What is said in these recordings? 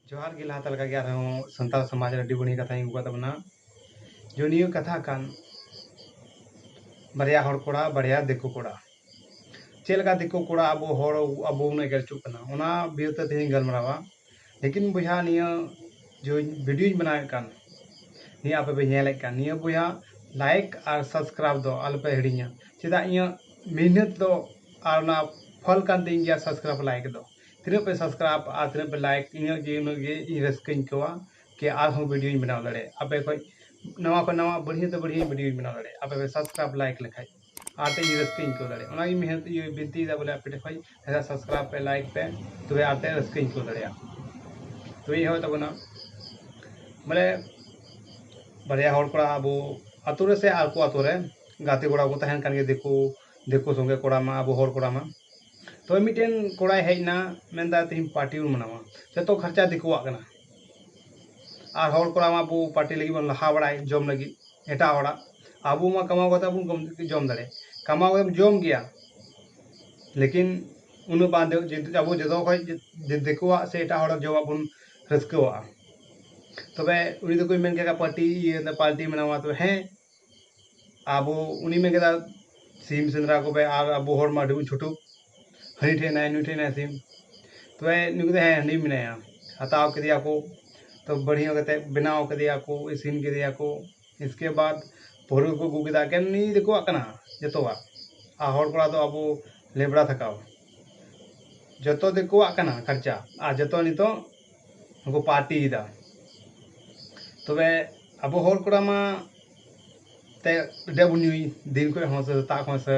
ᱡᱚᱦᱟᱨ ᱜᱮ ᱞᱟᱦᱟᱛᱮ ᱞᱮᱠᱟᱜᱮ ᱟᱨᱦᱚᱸ ᱥᱟᱱᱛᱟᱲ ᱥᱚᱢᱟᱡᱽ ᱨᱮ ᱟᱹᱰᱤ ᱵᱟᱹᱲᱤᱡ ᱠᱟᱛᱷᱟᱧ ᱟᱹᱜᱩ ᱠᱟᱜ ᱛᱟᱵᱚᱱᱟ ᱡᱩᱱᱤᱭᱟᱹ ᱠᱟᱛᱷᱟ ᱠᱟᱱ ᱵᱟᱨᱭᱟ ᱦᱚᱲ ᱠᱚᱲᱟ ᱵᱟᱨᱭᱟ ᱫᱤᱠᱩ ᱠᱚᱲᱟ ᱪᱮᱫ ᱞᱮᱠᱟ ᱫᱤᱠᱩ ᱠᱚᱲᱟ ᱟᱵᱚ ᱦᱚᱲ ᱟᱵᱚ ᱵᱚᱱ ᱮᱜᱮᱨ ᱦᱚᱪᱚᱜ ᱠᱟᱱᱟ ᱚᱱᱟ ᱵᱤᱨᱩᱫᱷ ᱛᱮ ᱛᱮᱦᱮᱧ ᱤᱧ ᱜᱟᱞᱢᱟᱨᱟᱣᱟ ᱞᱮᱠᱤᱱ ᱵᱚᱭᱦᱟ ᱱᱤᱭᱟᱹ ᱡᱮ ᱵᱷᱤᱰᱤᱭᱳᱧ ᱵᱮᱱᱟᱣᱮᱫ ᱠᱟᱱ ᱱᱤᱭᱟᱹ ᱟᱯᱮ ᱯᱮ ᱧᱮᱞᱮᱫ ᱠᱟᱱ ᱱᱤᱭᱟᱹ ᱵᱚᱭᱦᱟ ᱞᱟᱭᱤᱠ ᱟᱨ ᱥᱟᱵᱥᱠᱨᱟᱭᱤᱵ ᱫᱚ ᱟᱞᱚᱯᱮ ᱦᱤᱲᱤᱧᱟ ᱪᱮᱫᱟᱜ ᱤᱧᱟᱹᱜ ᱢᱮᱦᱱᱚᱛ ᱫᱚ ᱟᱨ ᱚᱱᱟ ᱯᱷᱚᱞ ᱠᱟᱱ ᱛᱤᱧ ᱜᱮᱭᱟ ᱥᱟᱵᱥᱠᱨᱟᱭᱤᱵ ᱞᱟᱭᱤᱠ ᱫᱚ ᱛᱤᱱᱟᱹᱜ ᱯᱮ ᱥᱟᱵᱥᱠᱨᱟᱭᱤᱵ ᱟᱨ ᱛᱤᱱᱟᱹᱜ ᱯᱮ ᱞᱟᱭᱤᱠ ᱤᱱᱟᱹᱜ ᱜᱮ ᱩᱱᱟᱹᱜ ᱜᱮ ᱤᱧ ᱨᱟᱹᱥᱠᱟᱹᱧ ᱟᱹᱭᱠᱟᱹᱣᱟ ᱠᱤ ᱟᱨᱦᱚᱸ ᱵᱷᱤᱰᱤᱭᱳᱧ ᱵᱮᱱᱟᱣ ᱫᱟᱲᱮᱭᱟᱜ ᱟᱯᱮ ᱠᱷᱚᱡ ᱱᱟᱣᱟ ᱠᱷᱚᱡ ᱱᱟᱣᱟ ᱵᱟᱹᱲᱦᱤ ᱛᱮ ᱵᱟᱹᱲᱦᱤ ᱵᱷᱤᱰᱤᱭᱳᱧ ᱵᱮᱱᱟᱣ ᱫᱟᱲᱮᱭᱟᱜ ᱟᱯᱮ ᱯᱮ ᱥᱟᱵᱥᱠᱨᱟᱭᱤᱵ ᱞᱟᱭᱤᱠ ᱞᱮᱠᱷᱟᱡ ᱟᱨ ᱛᱮ ᱨᱟᱹᱥᱠᱟᱹᱧ ᱟᱹᱭᱠᱟᱹᱣ ᱫᱟᱲᱮᱭᱟᱜᱼᱟ ᱚᱱᱟᱜᱮ ᱢᱮᱦᱱᱚᱛ ᱤᱭᱟᱹ ᱵᱤᱱᱛᱤᱭᱮᱫᱟ ᱵᱚᱞᱮ ᱟᱯᱮ ᱴᱷᱮᱱ ᱠᱷᱚᱱ ᱡᱟᱦᱟᱸ ᱥᱟᱵᱥᱠᱨᱟᱭᱤᱵᱽ ᱯᱮ ᱞᱟᱭᱤᱠ ᱯᱮ ᱛᱚᱵᱮ ᱟᱨ ᱛᱮ ᱨᱟᱹᱥᱠᱟᱹᱧ ᱟᱹᱭᱠᱟᱹᱣ ᱫᱟᱲᱮᱭᱟᱜᱼᱟ ᱛᱚᱵᱮ ᱤᱧ ᱦᱚᱸ ᱛᱟᱵᱚᱱᱟ ᱵᱚᱞᱮ ᱵᱟᱨᱭᱟ ᱦᱚᱲ ᱠᱚᱲᱟ ᱟᱵᱚ ᱟᱛᱳ ᱨᱮ ᱥᱮ ᱟᱠᱚ ᱟᱛᱳ ᱨᱮ ᱜᱟᱛᱮ ᱠᱚᱲᱟ ᱠᱚ ᱛᱟᱦᱮᱱ ᱠᱟᱱ ᱜᱮ ᱫᱤᱠᱩ ᱫᱤᱠᱩ ᱥᱚᱸᱜᱮ ᱠᱚᱲᱟ ᱢᱟ ᱟᱵᱚ ᱦᱚᱲ ᱠᱚᱲᱟ ᱢᱟ ᱛᱚᱵᱮ ᱢᱤᱫᱴᱮᱱ ᱠᱚᱲᱟᱭ ᱦᱮᱡ ᱮᱱᱟ ᱢᱮᱱᱫᱟ ᱛᱮᱦᱮᱧ ᱯᱟᱨᱴᱤ ᱵᱚᱱ ᱢᱟᱱᱟᱣᱟ ᱡᱚᱛᱚ ᱠᱷᱚᱨᱪᱟ ᱫᱤᱠᱩᱣᱟᱜ ᱠᱟᱱᱟ ᱟᱨ ᱦᱚᱲ ᱠᱚᱲᱟ ᱢᱟ ᱟᱵᱚ ᱯᱟᱨᱴᱤ ᱞᱟᱹᱜᱤᱫ ᱵᱚᱱ ᱞᱟᱦᱟ ᱵᱟᱲᱟᱭ ᱡᱚᱢ ᱞᱟᱹᱜᱤᱫ ᱮᱴᱟᱜ ᱦᱚᱲᱟᱜ ᱟᱵᱚ ᱢᱟ ᱠᱟᱢᱟᱣ ᱠᱟᱛᱮ ᱵᱚᱱ ᱡᱚᱢ ᱫᱟᱲᱮᱭᱟᱜ ᱠᱟᱢᱟᱣ ᱠᱟᱛᱮᱢ ᱡᱚᱢ ᱜᱮᱭᱟ ᱞᱮᱠᱤᱱ ᱩᱱᱟᱹᱜ ᱵᱟᱝ ᱟᱵᱚ ᱡᱚᱛᱚ ᱠᱷᱚᱡ ᱫᱤᱠᱩᱣᱟᱜ ᱥᱮ ᱮᱴᱟᱜ ᱦᱚᱲᱟᱜ ᱡᱚᱢᱟᱜ ᱵᱚᱱ ᱨᱟᱹᱥᱠᱟᱹᱣᱟᱜᱼᱟ ᱛᱚᱵᱮ ᱩᱱᱤ ᱫᱚᱠᱚ ᱢᱮᱱ ᱠᱮᱫᱟ ᱯᱟᱴᱤ ᱤᱭᱟᱹ ᱯᱟᱞᱴᱤ ᱢᱮᱱᱟᱢᱟ ᱛᱚᱵᱮ ᱦᱮᱸ ᱟᱵᱚ ᱩᱱᱤ ᱢᱮᱱ ᱠᱮᱫᱟ ᱥᱤᱢ ᱥᱮᱸᱫᱽᱨᱟ ᱠᱚᱯᱮ ᱟᱨ ᱟᱵᱚ ᱦᱚᱲ ᱢᱟ ᱟᱹᱰᱤ ᱵᱚᱱ ᱪᱷᱩᱴᱩ ᱦᱟᱹᱱᱤ ᱴᱷᱮᱡ ᱦᱮᱱᱟᱭᱟ ᱱᱩᱭ ᱴᱷᱮᱡ ᱦᱮᱱᱟᱭᱟ ᱥᱤᱢ ᱛᱚᱵᱮ ᱱᱩᱭ ᱠᱚᱫᱚ ᱦᱮᱸ ᱦᱟᱹᱱᱤ ᱢᱮᱱᱟᱭᱟ ᱦᱟᱛᱟᱣ ᱠᱮᱫᱮᱭᱟ ᱠᱚ ᱛᱚ ᱵᱟᱹᱲᱤ ᱧᱚᱜ ᱠᱟᱛᱮ ᱵᱮᱱᱟᱣ ᱠᱮᱫᱮᱭᱟ ᱠᱚ ᱤᱥᱤᱱ ᱠᱮᱫᱮᱭᱟ ᱠᱚ ᱤᱥᱠᱮ ᱵᱟᱫ ᱯᱟᱹᱣᱨᱟᱹ ᱠᱚ ᱟᱹᱜᱩ ᱠᱮᱫᱟ ᱮᱠᱮᱱ ᱱᱤᱭᱟᱹ ᱫᱤᱠᱩᱣᱟᱜ ᱠᱟᱱᱟ ᱡᱚᱛᱚᱣᱟᱜ ᱟᱨ ᱦᱚᱲ ᱠᱚᱲᱟ ᱫᱚ ᱟᱵᱚ ᱞᱮᱵᱽᱲᱟ ᱛᱷᱟᱠᱟᱣ ᱡᱚᱛᱚ ᱫᱤᱠᱩᱣᱟᱜ ᱠᱟᱱᱟ ᱠᱷᱟᱨᱪᱟ ᱟᱨ ᱡᱚᱛᱚ ᱱᱤᱛᱚᱜ ᱠᱚ ᱯᱟᱨᱴᱤᱭᱮᱫᱟ ᱛᱚᱵᱮ ᱟᱵᱚ ᱦᱚᱲ ᱠᱚᱲᱟ ᱢᱟ ᱛᱮ ᱟᱹᱰᱤ ᱟᱸᱴ ᱵᱚᱱ ᱧᱩᱭ ᱫᱤᱱ ᱠᱷᱚᱡ ᱦᱚᱸ ᱥᱮ ᱥᱮᱛᱟᱜ ᱠᱷᱚᱡ ᱥᱮ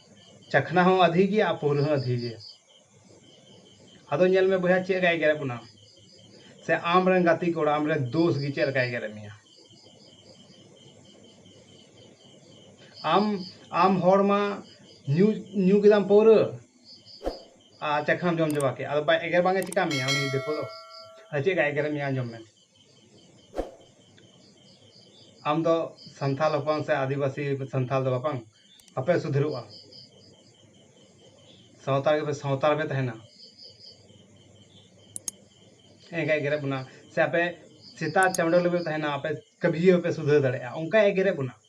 ᱪᱟᱠᱷᱱᱟ ᱦᱚᱸ ᱟᱫᱷᱤ ᱜᱮᱭᱟ ᱟᱨ ᱯᱟᱹᱣᱨᱟᱹ ᱦᱚᱸ ᱟᱫᱷᱤ ᱜᱮᱭᱟ ᱟᱫᱚ ᱧᱮᱞ ᱢᱮ ᱵᱚᱭᱦᱟ ᱪᱮᱫ ᱞᱮᱠᱟᱭ ᱮᱜᱮᱨᱮᱫ ᱵᱚᱱᱟ ᱥᱮ ᱟᱢ ᱨᱮᱱ ᱜᱟᱛᱮ ᱠᱚᱲᱟ ᱟᱢ ᱨᱮᱱ ᱫᱳᱥ ᱜᱮ ᱪᱮᱫ ᱞᱮᱠᱟᱭ ᱮᱜᱮᱨᱮᱫ ᱢᱮᱭᱟ ᱟᱢ ᱟᱢ ᱦᱚᱲ ᱢᱟ ᱧᱩ ᱧᱩ ᱠᱮᱫᱟᱢ ᱯᱟᱹᱣᱨᱟᱹ ᱟᱨ ᱪᱟᱠᱷᱱᱟᱢ ᱡᱚᱢ ᱪᱟᱵᱟ ᱠᱮᱫ ᱟᱫᱚ ᱵᱟᱭ ᱮᱜᱮᱨ ᱵᱟᱝᱮ ᱪᱤᱠᱟ ᱢᱮᱭᱟ ᱩᱱᱤ ᱫᱤᱠᱩ ᱫᱚ ᱟᱫᱚ ᱪᱮᱫ ᱞᱮᱠᱟᱭ ᱮᱜᱮᱨᱮᱫ ᱢᱮᱭᱟ ᱟᱸᱡᱚᱢ ᱢᱮ ᱟᱢ ᱫᱚ ᱥᱟᱱᱛᱟᱞ ᱦᱚᱯᱚᱱ ᱥᱮ ᱟᱹᱫᱤᱵᱟᱹᱥᱤ ᱥᱟᱱᱛᱟᱞ ᱫᱚ ᱵᱟᱝ ᱵᱟᱯᱮ ᱥᱩᱫᱷᱨᱟᱹᱜᱼᱟ ᱥᱟᱶᱛᱟ ᱜᱮᱯᱮ ᱥᱟᱶᱛᱟ ᱨᱮᱯᱮ ᱛᱟᱦᱮᱱᱟ ᱮᱸᱜᱟᱭ ᱮᱜᱮᱨᱮᱫ ᱵᱚᱱᱟ ᱥᱮ ᱟᱯᱮ ᱥᱮᱛᱟ ᱪᱟᱸᱰᱚ ᱞᱮᱠᱟ ᱯᱮ ᱛᱟᱦᱮᱱᱟ ᱟᱯᱮ ᱠᱟᱹᱵᱷᱤ ᱜᱮ ᱵᱟᱯᱮ ᱥᱩᱫᱷᱟᱹᱨ ᱫᱟᱲᱮᱭᱟᱜᱼᱟ ᱚᱱᱠᱟᱭ ᱮᱜᱮᱨᱮᱫ ᱵᱚᱱᱟ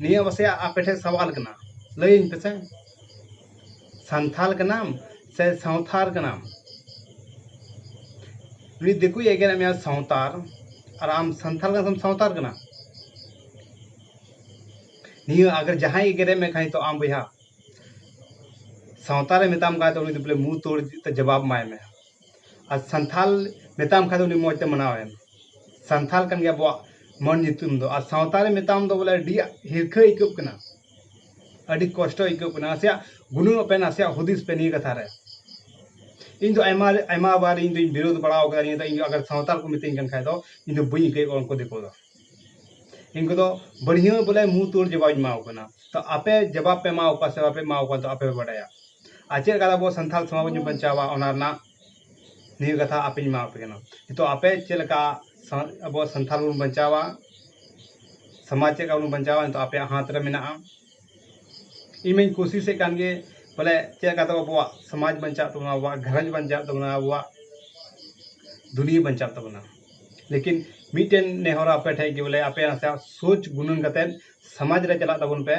ᱱᱤᱭᱟᱹ ᱢᱟᱥᱮ ᱟᱯᱮ ᱴᱷᱮᱱ ᱥᱟᱣᱟᱞ ᱠᱟᱱᱟ ᱞᱟᱹᱭᱟᱹᱧ ᱯᱮᱥᱮ ᱥᱟᱱᱛᱷᱟᱞ ᱠᱟᱱᱟᱢ ᱥᱮ ᱥᱟᱶᱛᱟᱞ ᱠᱟᱱᱟᱢ ᱩᱱᱤ ᱫᱤᱠᱩᱭ ᱮᱜᱮᱨᱮᱫ ᱢᱮᱭᱟ ᱥᱟᱶᱛᱟᱞ ᱟᱨ ᱟᱢ ᱥᱟᱱᱛᱷᱟᱞ ᱠᱟᱱᱟᱢ ᱥᱮᱢ ᱥᱟᱶᱛᱟᱞ ᱠᱟᱱᱟ ᱱᱤᱭᱟᱹ ᱟᱜᱟᱨ ᱡᱟᱦᱟᱸᱭ ᱮᱜᱮᱨᱮᱫ ᱢᱮ ᱠᱷᱟᱱ ᱛᱚ ᱟᱢ ᱵᱚᱭᱦᱟ ᱥᱟᱶᱛᱟᱞᱮ ᱢᱮᱛᱟᱢ ᱠᱟᱱ ᱛᱚ ᱩᱱᱤ ᱫᱚ ᱵᱚᱞᱮ ᱢᱩᱸᱦ ᱛᱳᱲ ᱡᱚᱵᱟᱵᱽ ᱮᱢᱟᱭ ᱢᱮ ᱟᱨ ᱥᱟᱱᱛᱷᱟᱞ ᱢᱮᱛᱟᱢ ᱠᱷᱟᱱ ᱫᱚ ᱩᱱᱤ ᱢᱚᱡᱽ ᱛᱮ ᱢᱟᱱᱟᱣ ᱮᱢ ᱥᱟᱱᱛᱷᱟᱞ ᱠᱟᱱ ᱜᱮᱭᱟ ᱟᱵᱚᱣᱟᱜ ᱢᱟᱹᱱ ᱧᱩᱛᱩᱢ ᱫᱚ ᱟᱨ ᱥᱟᱶᱛᱟ ᱨᱮ ᱢᱮᱛᱟᱢ ᱫᱚ ᱵᱚᱞᱮ ᱟᱹᱰᱤ ᱦᱤᱨᱠᱷᱟᱹ ᱟᱹᱭᱠᱟᱹᱜ ᱠᱟᱱᱟ ᱟᱹᱰᱤ ᱠᱚᱥᱴᱚ ᱟᱹᱭᱠᱟᱹᱜ ᱠᱟᱱᱟ ᱱᱟᱥᱮᱭᱟᱜ ᱜᱩᱱᱟᱹᱱᱚᱜ ᱯᱮ ᱱᱟᱥᱮᱭᱟᱜ ᱦᱩᱫᱤᱥ ᱯᱮ ᱱᱤᱭᱟᱹ ᱠᱟᱛᱷᱟ ᱨᱮ ᱤᱧ ᱫᱚ ᱟᱭᱢᱟ ᱟᱭᱢᱟ ᱵᱟᱨ ᱤᱧ ᱫᱚᱧ ᱵᱤᱨᱳᱫᱷ ᱵᱟᱲᱟ ᱟᱠᱟᱫᱟ ᱱᱤᱭᱟᱹ ᱫᱚ ᱤᱧ ᱫᱚ ᱟᱜᱟᱨ ᱥᱟᱶᱛᱟᱞ ᱠᱚ ᱢᱤᱛᱟᱹᱧ ᱠᱟᱱ ᱠᱷᱟᱱ ᱫᱚ ᱤᱧ ᱫᱚ ᱵᱟᱹᱧ ᱤᱠᱟᱹᱭᱮᱫ ᱠᱚᱣᱟ ᱩᱱᱠᱩ ᱫᱤᱠᱩ ᱫᱚ ᱤᱱᱠᱩ ᱫᱚ ᱵᱟᱹᱲᱦᱤ ᱦᱚᱸ ᱵᱚᱞᱮ ᱢᱩᱸᱦ ᱛᱩᱲ ᱡᱚᱵᱟᱵ ᱤᱧ ᱮᱢᱟᱣᱟᱠᱚ ᱠᱟᱱᱟ ᱛᱚ ᱟᱯᱮ ᱡᱚᱵᱟᱵ ᱯᱮ ᱮᱢᱟᱣᱟᱠᱚ ᱠᱟᱱᱟ ᱥᱮ ᱵᱟᱯᱮ ᱮᱢᱟᱣᱟᱠᱚ ᱠᱟᱱᱟ ᱟᱯᱮ ᱯᱮ ᱵᱟᱰᱟᱭᱟ ᱟᱨ ᱪᱮᱫ ᱞᱮᱠᱟᱛᱮ ᱟᱵᱚ ᱥᱟᱱᱛᱟᱲ ᱥᱚᱢᱟᱡᱽ ᱵᱚᱱ ᱵᱟᱧᱪᱟᱣᱟ ᱚᱱᱟ ᱨᱮᱱᱟᱜ ᱱᱤᱭᱟᱹ ᱠᱟᱛᱷᱟ ᱟᱯᱮᱧ ᱮᱢᱟᱣᱟᱯᱮ ᱠᱟᱱᱟ ᱛᱚ ᱟᱯᱮ ᱪᱮᱫ ᱞᱮᱠᱟ ᱟᱵᱚ ᱥᱟᱱᱛᱟᱲ ᱵᱚᱱ ᱵᱟᱧᱪᱟᱣᱟ ᱥᱚᱢᱟᱡᱽ ᱪᱮᱫ ᱞᱮᱠᱟ ᱵᱚᱱ ᱵᱟᱧᱪᱟᱣᱟ ᱱᱤᱛᱚᱜ ᱟᱯᱮᱭᱟᱜ ᱦᱟᱛ ᱨᱮ ᱢᱮᱱᱟᱜᱼᱟ ᱤᱧ ᱢᱟᱹᱧ ᱠᱩᱥᱤᱥᱮᱫ ᱠᱟᱱ ᱜᱮ ᱵᱚᱞᱮ ᱪᱮᱫ ᱞᱮᱠᱟᱛᱮ ᱟᱵᱚᱣᱟᱜ ᱥᱚᱢᱟᱡᱽ ᱵᱟᱧᱪᱟᱜ ᱛᱟᱵᱚᱱᱟ ᱟᱵᱚᱣᱟᱜ ᱜᱷᱟᱨᱚᱸᱡᱽ ᱵᱟᱧᱪᱟᱜ ᱛᱟᱵᱚᱱᱟ ᱟᱵᱚᱣᱟᱜ ᱫᱩᱱᱤᱭᱟᱹ ᱵᱟᱧᱪᱟᱜ ᱛᱟᱵᱚᱱᱟ ᱞᱮᱠᱤᱱ ᱢᱤᱫᱴᱮᱱ ᱱᱮᱦᱚᱨ ᱟᱯᱮ ᱴᱷᱮᱱ ᱜᱮ ᱵᱚᱞᱮ ᱟᱯᱮ ᱱᱟᱥᱮᱭᱟᱜ ᱥᱳᱪ ᱜᱩᱱᱟᱹᱱ ᱠᱟᱛᱮ ᱥᱚᱢᱟᱡᱽ ᱨᱮ ᱪᱟᱞᱟᱜ ᱛᱟᱵᱚᱱ ᱯᱮ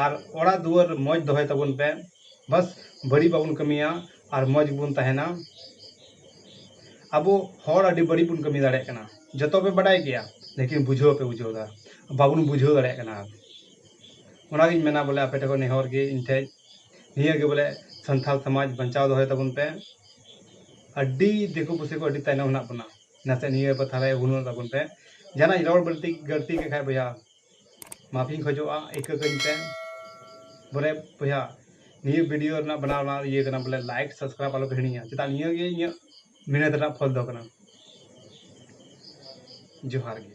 ᱟᱨ ᱚᱲᱟᱜ ᱫᱩᱣᱟᱹᱨ ᱢᱚᱡᱽ ᱫᱚᱦᱚᱭ ᱛᱟᱵᱚᱱ ᱯᱮ ᱵᱟᱥ ᱵᱟᱹᱲᱤᱡ ᱵᱟᱵᱚᱱ ᱠᱟᱹᱢᱤᱭᱟ ᱟᱨ ᱢᱚᱡᱽ ᱜᱮᱵᱚᱱ ᱛᱟᱦᱮᱱᱟ ᱟᱵᱚ ᱦᱚᱲ ᱟᱹᱰᱤ ᱵᱟᱹᱲᱤᱡ ᱵᱚᱱ ᱠᱟᱹᱢᱤ ᱫᱟᱲᱮᱭᱟᱜ ᱠᱟᱱᱟ ᱡᱚᱛᱚ ᱯᱮ ᱵᱟᱰᱟᱭ ᱜᱮᱭᱟ ᱞᱮᱠᱤᱱ ᱵᱩᱡᱷᱟᱹᱣ ᱵᱟᱯᱮ ᱵᱩᱡᱷᱟᱹᱣᱫᱟ ᱵᱟᱵᱚᱱ ᱵᱩᱡᱷᱟᱹᱣ ᱫᱟᱲᱮᱭᱟᱜ ᱠᱟᱱᱟ ᱚᱱᱟᱜᱤᱧ ᱢᱮᱱᱟ ᱵᱚᱞᱮ ᱟᱯᱮ ᱴᱷᱮᱱ ᱠᱷᱚᱱ ᱱᱮᱦᱚᱨ ᱜᱮ ᱤᱧ ᱴᱷᱮᱱ ᱱᱤᱭᱟᱹ ᱜᱮ ᱵᱚᱞᱮ ᱥᱟᱱᱛᱟᱞ ᱥᱚᱢᱟᱡᱽ ᱵᱟᱧᱪᱟᱣ ᱫᱚᱦᱚᱭ ᱛᱟᱵᱚᱱ ᱯᱮ ᱟᱹᱰᱤ ᱫᱤᱠᱩ ᱯᱩᱥᱤ ᱠᱚ ᱟᱹᱰᱤ ᱛᱟᱭᱱᱚᱢ ᱦᱮᱱᱟᱜ ᱵᱚᱱᱟ ᱱᱟᱥᱮ ᱱᱤᱭᱟᱹ ᱠᱟᱛᱷᱟ ᱨᱮ ᱩᱱᱩᱨ ᱛᱟᱵᱚᱱ ᱯᱮ ᱡᱟᱦᱟᱱᱟᱜ ᱨᱚᱲ ᱵᱟᱹᱲᱛᱤ ᱜᱟᱹᱲᱛᱤ ᱠᱮᱫ ᱠᱷᱟᱱ ᱵᱚᱭᱦᱟ ᱢᱟᱯᱷᱤᱧ ᱠᱷᱚᱡᱚᱜᱼᱟ ᱤᱠᱟᱹ ᱠᱟᱹᱧ ᱯᱮ ᱵᱚᱞᱮ ᱵᱚᱭᱦᱟ ᱱᱤᱭᱟᱹ ᱵᱷᱤᱰᱤᱭᱳ ᱨᱮᱱᱟᱜ ᱵᱮᱱᱟᱣ ᱨᱮᱱᱟᱜ ᱤᱭᱟᱹ ᱠᱟᱱᱟ ᱵᱚᱞᱮ ᱞᱟᱭᱤᱠ ᱥᱟᱵᱥᱠᱨᱟᱭᱤᱵ ᱟᱞᱚ ᱯᱮ ᱦᱤᱲᱤᱧᱟ ᱪᱮᱫᱟᱜ ᱱᱤᱭᱟᱹ ᱜᱮ ᱤᱧᱟᱹᱜ ᱢᱮᱦᱱᱚᱛ ᱨᱮᱱᱟᱜ ᱯᱷᱚᱞ ᱫᱚ ᱠᱟᱱᱟ ᱡᱚᱦᱟᱨ ᱜᱮ